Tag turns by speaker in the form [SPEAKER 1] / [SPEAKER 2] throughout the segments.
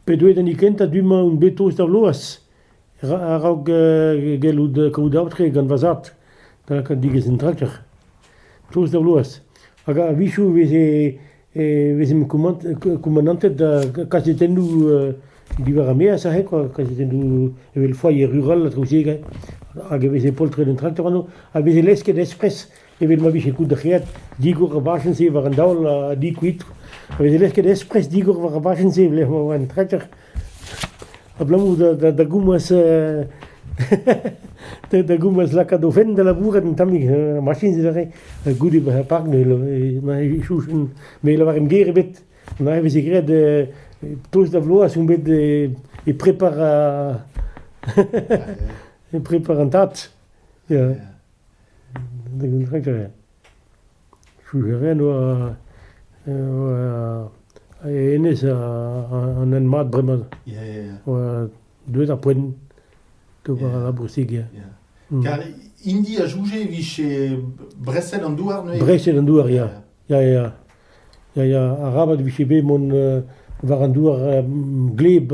[SPEAKER 1] P'eo deuet an hini kentañ du-mañ on bet tost d'ar bloaz a-raok gellout kaout aotre gant va zad da lakaat digez an trakter. Tost d'ar bloaz. Hag a-wechoù e veze e vezimp koumanantet da kazetennoù diwar ar-maez aze kwa, kazetennoù evel foyer rural ha traoù-se hag e veze poltred un traktor anv a veze lesket espres evel ma vije koudreet digor ar bajenn-se war an daol ha di koitr a veze lesket espres digor war ar bajenn-se e-lec'h ma oa un traktor. Abalamour da goumz da goumz lakaat o fenn da labourat un tammig, ar machiñs aze, goude bezañ park ne chouchan, me ne lavarin ger ebet, neuze e veze graet tost da vloaz on bet e prepar e prepar an tad, ya, un dra gaer. Fulgurien oa hennezh an hent mat bremañ. Oa deuet ar poent d'ober al labousig ya. Kar hini
[SPEAKER 2] a souje e vije breset an douar neuze? Breset an douar ya,
[SPEAKER 1] ya ya. Ya ya, arabat e vije bet mont war an douar gleb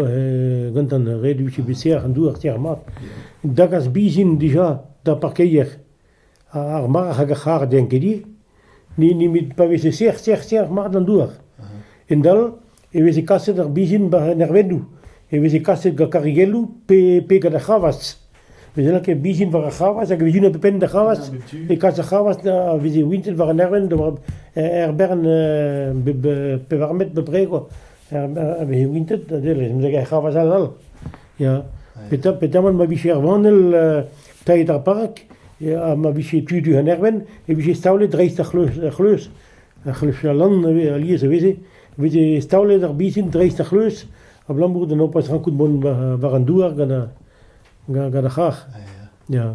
[SPEAKER 1] gantan, ret e vije bet serr an douar serr mat. Da gas bizin dija d'ar parkeier. Ar marc'h hag ar c'harr n'int ket ivez, n'int nemet pa veze serr, serr, serr mat an douar. Hendall e veze kaset ar bezhin war an ervennoù, e veze kaset gant karrigelloù pe pe gant ar c'hravazh. Veze lakaet ar bezhin war ar c'hravazh hag e vezjont e penn d'ar c'hravazh, e kas ar c'hravazh da veze wintet war an ervenn da war- er bern pevar metr bepred, quoi. a veze wintet a delle mezeg ar c'havas all all ya petra petamant ma vije ar vanell tailhet ar park ha ma vije tu-du an ervenn e vije staolet dreist ar c'hleuz ar c'hleuz ar c'hleuz lann alies a veze veze staolet ar bisin dreist ar c'hleuz abalamour da n'ho poa rankout mont war an douar gant ar gant ar c'harr ya